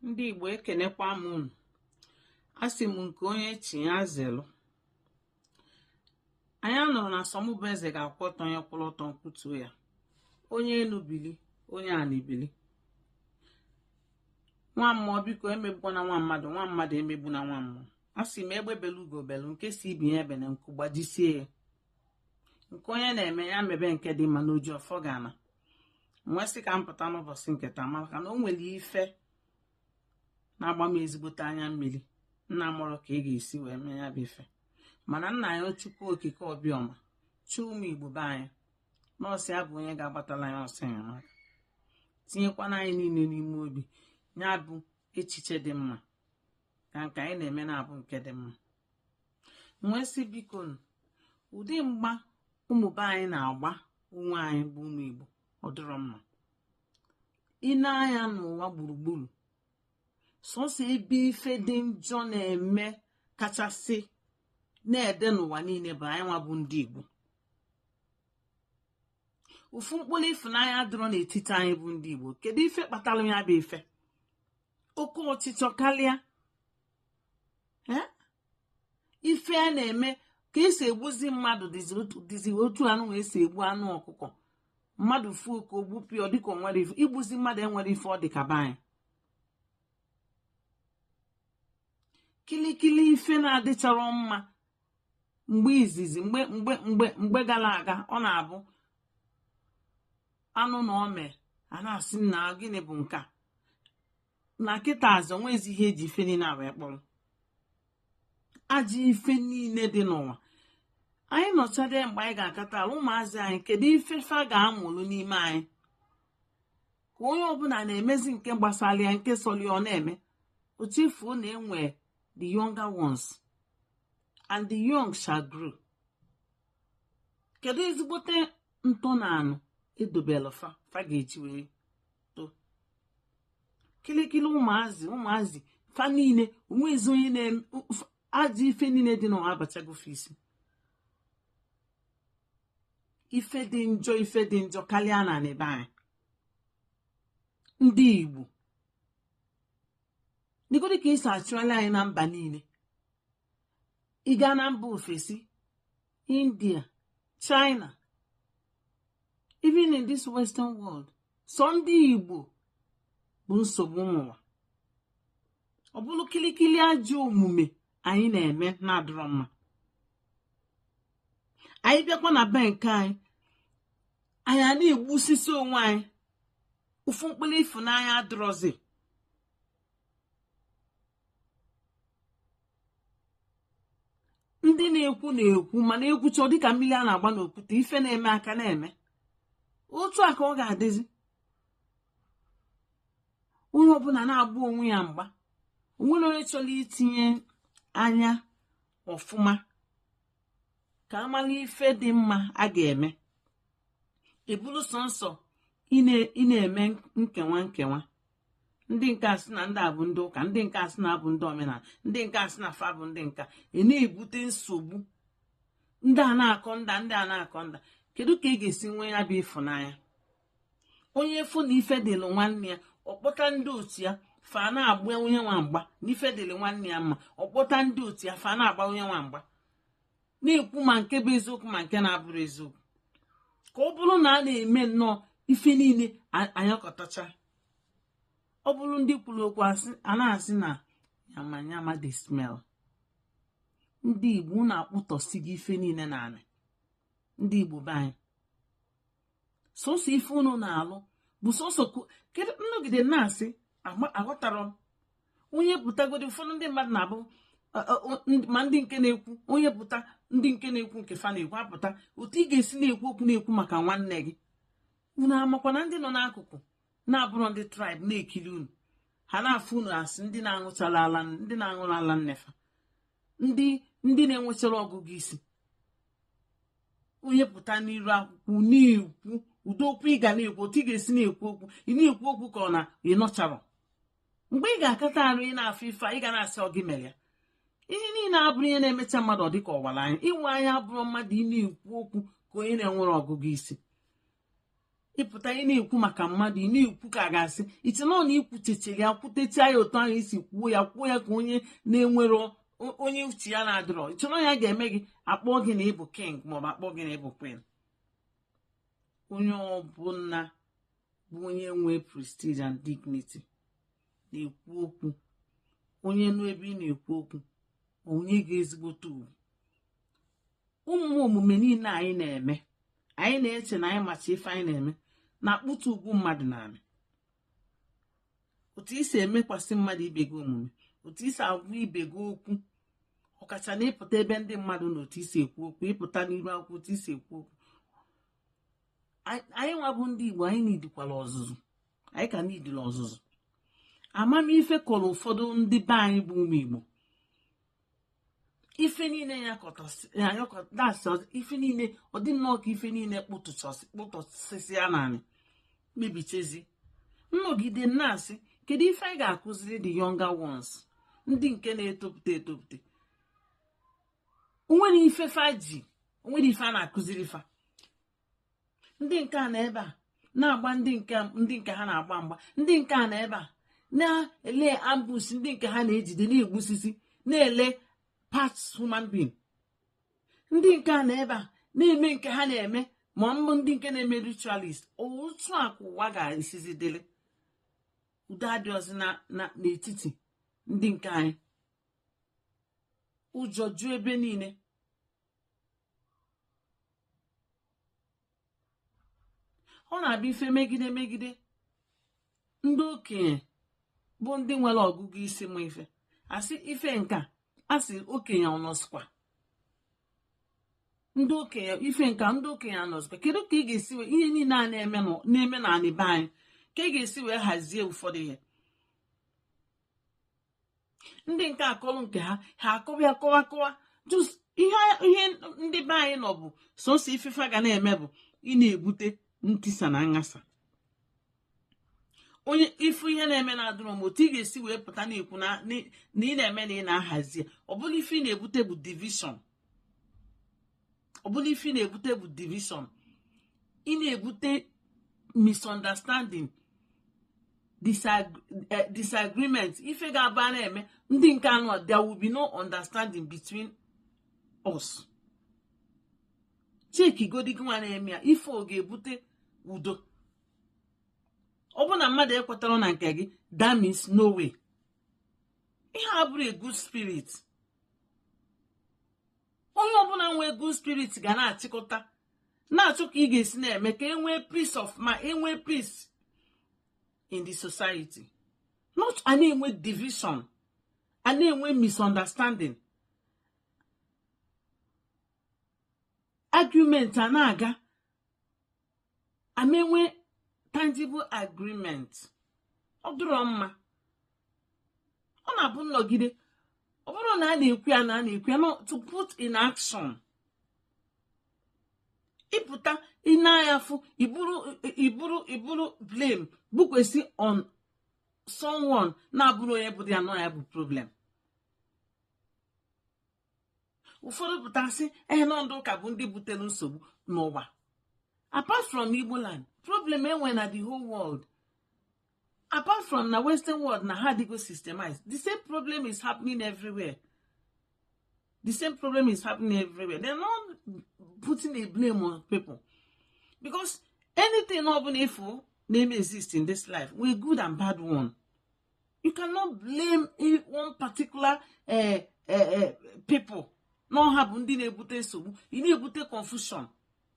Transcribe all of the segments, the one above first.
ndị igbo ekenekwa m unu asị m nke onye chi ya zelu anyị nọrọ na asọmụbụ eze ga-akwụ ọtọ onye kwụrụ ọtọ nkwutuo ya onye enu bili onye ana ebili nwa mmụọ biko emegbuna nwa mmadụ nwa mmadụ emegbuna nwa mmụọ asị m egbe belu ugo belu nke sị ibe ya ebena nku gbajisie ya nke onye na-eme ya mebe nke dị mma n'oji ọfọ ga-ana m wee sị ka m pụta n'ụbọchị nke taa maka na o nwere ife na-agba m ezigbote anya mmiri na amarọ ka a ga-esi wee mee ya bụ ife mana nna anyị chukwu okike obiọma chi ụmụ igbo be anyị na ọ sọ ya bụ onye ga-agbatalụ anyị ọsọ enyemaka tinyekwana anyị niile n'ime obi ya bụ echiche dị mma ka nke anyị na-eme na-abụ nke dị mma m wee sị biko ụdị mgba ụmụ be anyị na-agba onwe anyị bụ ụmụ Igbo ọ dịrọ mma ị nee anya n'ụwa gburugburu sọsọ ebe ife dị njọ na-eme kachasị na-ede n'ụwa niile bụ anyị nwa bụ ndị Igbo ofu mkpụrụ ịfụnanya adịrọ n'etiti anyị bụ ndị Igbo kedu ife kpatara ya bụ ife oke ọchịchọ karịa ife a na-eme ka esi egbuzi mmadụ dịzi otu anụnwa esi egbu anụ ọkụkọ mmadụ fuo ka o gbupịọ dịka o nwere ife igbuzi mmadụ enwerọ ife ọ dị ka be anyị kilikili ife na-adịcharọ mma mgbe izizi mgbe gara aga ọ na-abụ a nụ na o mee a na-asị na gịnị bụ nke a na kịtaazị o nwezi ihe eji ife niile a wee kpọrọ ajọ ife niile dị n'ụwa anyị nọchade mgbe anyị ga-akata laa ụmụazị anyị kedu ife fa ga-amụrụ n'ime anyị ka onye ọbụla na-emezi nke gbasara ya nke sọrọ ọ na-eme o chefuo na e nwe the younger ones and the young shall grow kedu ezigbote ntọana e dobelụ fa fa ga-eji wee kilikili ụmụazị ụmụazị fa niile o nwezi onye na-eme ajọ ife niile dị n'ụwa abachago fa isi ife dị njọ ife dị njọ akarịana na be anyị ndị Igbo dịgodị ka e si achụalị anyị na mba niile ị gaa na mba ofesi india china even in this western world sọ ndị igbo bụ nsogbu ụmụnwa ọ bụrụ kilikili ajọ omume anyị na-eme na-adịrọ mma anyị bịakwa na be nke anyị anyị a na-egbusisi onwe anyị ofu mkpụrụ ịfụnanya adịrọzi ndị na-ekwu na-ekwu mana ekwucha ọ dịka mmiri a na-agba n'okwute ife na-eme aka na-eme otu a ka ọ ga-adịzi onye ọbụla na-agba onwe ya mgba o nwerọ onye chọrọ itinye anya ọfụma ka a malụ ife dị mma a ga-eme ọ bụlụ sọnsọ ị na-eme nkewa nkewa ndị nke a sị na ndị a bụ ndị ụka ndị nke a sị na abụ ndị omenala ndị nke a sị na fa bụ ndị nke a na-ebute nsogbu ndị a na-akọ ndị a ndị a na-akọ ndị a kedu ka ị ga-esi nwee ya bụ ịfụnanya onye fụ na ife dịlụ nwanne ya ọ kpọta ndị otu ya fa na-agba onye nwa mgba na ife dịlụ nwanne ya mma ọ kpọta ndị otu ya fa na-agba onye nwa mgba na-ekwu ma nke bụ eziokwu ma nke na-abụrọ eziokwu ka ọ bụrụ na a na-eme nnọọ ife niile anyakọtacha ọ bụrụ ndị kwuru okwu a na-asị na yamayama dey smell ndị igbo na-akpụtọsi gị ife niile n'anị ndị igbo be anyị sọsọ ife unu na-alụ bụ sọsọ kedu nnọgide na-asị aghọtarọ m onye pụtagodi ụfọdụ ndị mmadụ na-abụ ma ndị nke na-ekwu onye pụta ndị nke na-ekwu nke fa na-ekwu apụta otu ị ga-esi na-ekwu okwu na-ekwu maka nwanne gị unu amakwa na ndị nọ n'akụkụ na-abụrọ ndị tribe na-ekiri unu ha na-afụ unu as ndị na-aṅụcharọ ala ndị na-aṅụrọ ala nne fa ndị ndị na-enwecharọ ọgụgụ isi onye pụta n'iru akwụkwọ na-ekwu ụdị okwu ị ga na-ekwu otu ị ga-esi na-ekwu okwu ị na-ekwu okwu ka ọ na ị nọcharọ mgbe ị ga-akata arụ ị na-afụ ife ị ga na-asị ọ gị mere ya ihe niile abụrọ ihe na-emecha mmadụ ọ dịka ọ wara anya ịwa anya abụrọ mmadụ ị na-ekwu okwu ka onye na-enwerọ ọgụgụ isi ị pụta ị na-ekwu maka mmadụ ị na-ekwu ka a ga-asị i che na ọ na ikwuchechiri ya kwutọcha ya otu ahụ i si kwuo ya kwuo ya ka onye na-enwerọ onye uche ya na-adịrọ i che na ọ ya ga-eme gị akpọ gị na ị bụ king maọbụ akpọ gị na ị bụ queen onye ọbụla bụ onye nwee prestige and dignity na-ekwu okwu onye nụ ebe ị na-ekwu okwu o nye gị ezigbote ugwu ụmụ omume niile anyị na-eme anyị na-eche na anyị macha ife anyị na-eme na-akpụtụ ugwu mmadụ n'ala otu i si emekwasị mmadụ ibe gị omume otu i si agwa ibe gị okwu ọkacha na ị pụta ebe ndị mmadụ na otu i si ekwu okwu ị pụta n'iru akwụkwọ otu i si ekwu okwu anyị nwa bụ ndị igbo anyị nidikwala ọzụzụ anyị ka nidila ọzụzụ amamife kọrọ ụfọdụ ndị be anyị bụ ụmụ igbo ife niile ya kọtasị ife niile ọ dị nnọọ ka ife niile kpụtụsịsị ya n'anị mebichezi m nọgide na-asị kedu ife anyị ga-akụziri the younger ones ndị nke na-etopụta etopụta o nwere ife fa ji o nwere ife a na-akụziri fa ndị nke a nọ ebe a na-agba ndị nke ndị nke ha na-agba mgba ndị nke a nọ ebe a na-ele ambush ndị nke ha na-ejide na-egbusisi na-ele parts human being ndị nke a nọ ebe a na-eme nke ha na-eme ma ọ bụ ndị nke na-eme ritualist otu a ka ụwa ga-esizi dịrị udo adịrọzi n'etiti ndị nke anyị ụjọ ju ebe niile ọ na-abụ ife megide megide ndị okenye bụ ndị nwere ọgụgụ isi ma ife a sị ife nka a sị okenye ọ nọzikwa ndị okenye ife nka ndị okenye a nọzikwa kedu ka ị ga-esi wee ihe niile a na-eme n'anị be anyị ka ị ga-esi wee hazie ụfọdụ ihe ndị nke akọrọ nke ha ha akọwa ya kọwa kọwa just ihe ihe ndị be anyị nọ bụ sọsọ ife fa ga na-eme bụ ị na-ebute ntisa na nghasa onye ị fụ ihe na-eme na adịrọ mma otu ị ga-esi wee pụta na-ekwu na ị na-eme na ị na-ahazi ọ bụla ife ị na-ebute bụ division ọ bụla ife ị na-ebute bụ division ị na-ebute misunderstanding eh, disagreement ife ga-aba na-eme ndị nke anọ there will be no understanding between us cheki godi gị nwa na-eme ya ife ọ ga-ebute udo ọ bụ na mmadụ ekwetarọ na nke gị that means no way ihe a abụrọ a good spirit onye ọbụla nwee good spirit ga na-achịkọta na-achọ ka ị ga-esi na-eme ka e nwee peace of mind e nwee peace in the society not a na-enwe division a na-enwe misunderstanding argument a na-aga a ma enwe tangible agreement ọ dịrọ mma ọ na-abụ nnọgide ọ bụrụ na a na-ekwu ya na a na-ekwu ya to put in action ị pụta ị na-ayafu i buru i buru i buru blame bukwesị on someone na-abụrọ onye butalụ ya bụ problem ụfọdụ pụta sị ehe na ndị ụka bụ ndị butere nsogbu n'ụwa apart from Igbo land problem e nwe na the whole world apart from na western world na ha adịgo systemized the same problem is happening everywhere the same problem is happening everywhere they're not putting a blame on people because anything ọbụla ị fụ na-eme exist in this life nwe good and bad one you cannot blame one particular eh, eh, eh, people na ọ ha bụ ndị na-ebute nsogbu ị na-ebute confusion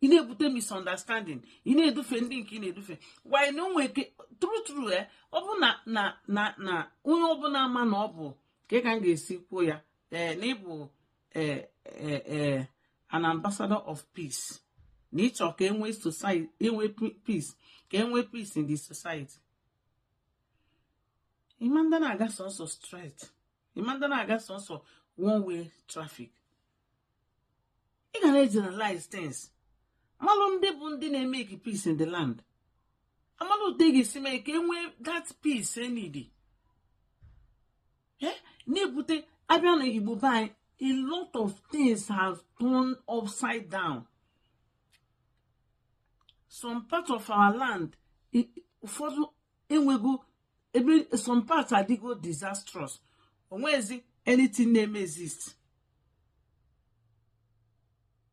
ị na-ebute misunderstanding ị na-edufe ndị nke ị na-edufe why na o nwe ike true true eh ọ bụ na na na na onye ọbụla ama na ọ bụ ka ka m ga-esi kwuo ya ee na ị bụ ee ee ee an ambassador of peace na ị chọ ka e nwee society enwe peace ka e nwee peace in the society ị ma ndị na-aga sọsọ straight ị ma ndị na-aga sọsọ one way traffic ị ga na-generalize things amalụ ndị bụ ndị na-emake peace in the land amalụ otu a ga-esi mee ka e nwee that peace e need eh? na-ebute a bịa na igbo be anyị a lot of things have turned upside down some part of our land ụfọdụ enwego ebe some parts adịgo disastrous o nwezi anything na-eme exist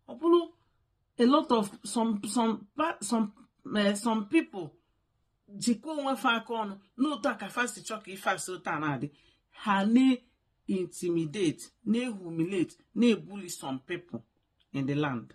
ọ bụrụ a lot of some some some eh, some people jikwa onwe fa aka ọnụ n'otu a ka fa si chọọ ka ife si otu a na-adị ha na-intimidate na-ehumiliate na-ebully some people in the land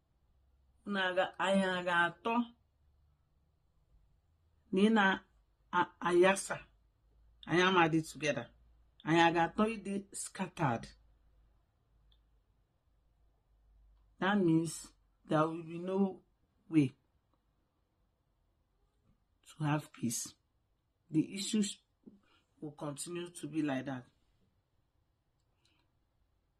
anyị a ga-atọ na ị na-ayasa anyị ama adị together anyị a ga-atọ ịdị scattered that means there will be no way to have peace the issues will continue to be like that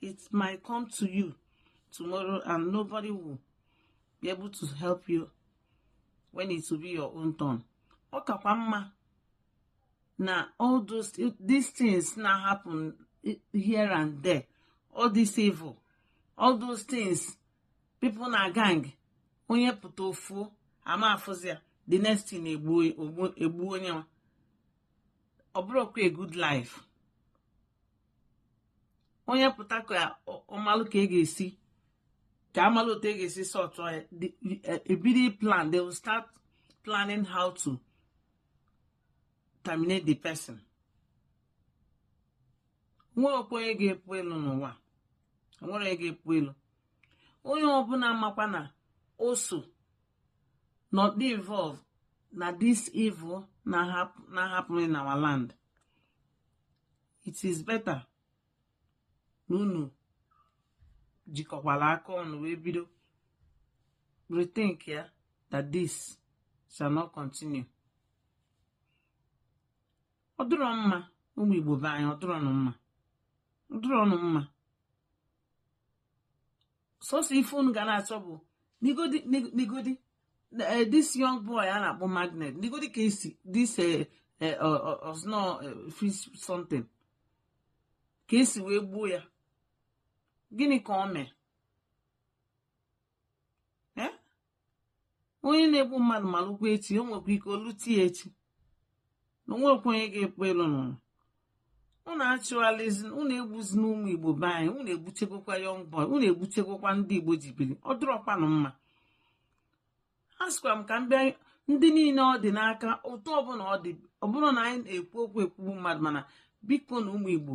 it might come to you tomorrow and nobody will be able to help you when it will be your own turn ọ kakwa mma na all these things na happen here and there all this evil all those things people na gang onye pụta o fuo a ma afụzi ya the next thing e gbuo onye nwa ọ bụrọkwa a good life onye pụta ka ọ malụ ka e ga-esi ka a malụ etu e ga-esi sọtụ ya e bido e, e plan they will start planning how to terminate the person o nwerọkwa onye ga-epu elu n'ụwa o nwerọ onye ga-epu elu onye ọbụla makwa na o so na ọ dị involved na this evil na happen in our land it is better na unu jikọkwala aka ọnụ wee bido rethink ya that this shall not continue ọ dịrọ mma ụmụ igbo be anyị ọ dịrọnụ mma ọ dịrọnụ mma sọsọ ife unu ga na-achọ bụ negodi negodi eh, this young boy a na-akpọ magnet negodi ka e si this eh, eh, osno fish something ka e si wee gbuo ya gịnị ka o mee onye na-egbu mmadụ malụkwa echi o nwekwa ike o lute ya echi na o nwekwa onye ga-epu elu n'ụwa unu achụghalizi unu egbuzina ụmụ igbo be anyị unu egbuchegokwa young boy unu egbuchegokwa ndị igbo ji biri ọ dụrọkwanụ mma asịkwa m ka m bịa ndị niile ọ dị n'aka otu ọbụla ọ dị ọ bụrọ na anyị na-ekwu okwu ekwugbu mmadụ mana bikonụ ụmụ igbo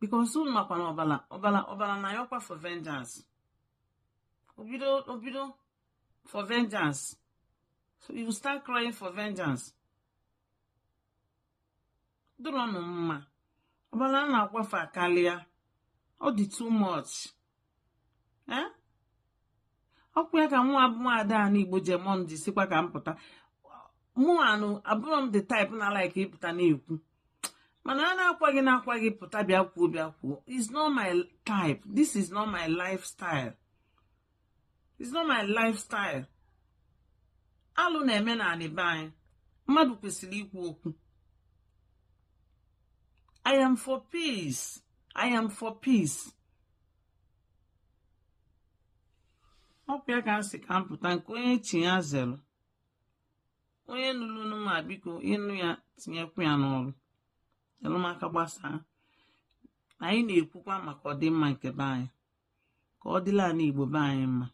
because unu makwa na ọbala ọbala ọbala na-ayọkwa for vengeance o bido o bido for vengeance so you start crying for vengeance ọ dịrọnụ mma ọbala a na-akwafu akalịa ọ dị too much eh? ọ kwa ya ka mụwa bụ nwaada a n'igbo jemon ji sịkwa ka m pụta mụwanụ abụrọ m the type na like ịpụta na-ekwu mana a na-akwa gị na-akwa gị pụta bịa kwuo bịa kwuo is not my type this is not my lifestyle is not my lifestyle alụ na-eme n'anị be anyị mmadụ kwesịrị ikwu okwu I am for peace. I am for peace. ọ bụ ya ka m sị ka m pụta nke onye chi ya zere onye nụlụnụ ma biko ị nụ ya tinyekwu ya n'ọrụ nyere m aka gbasaa anyị na-ekwukwa maka ọdịmma nke be anyị ka ọ dịlị anị igbo be anyị mma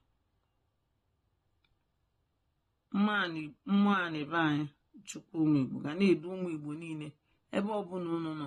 mmụọ anị be anyị chukwu ụmụ igbo ga na-edu ụmụ igbo niile ebe ọ bụla unu nọ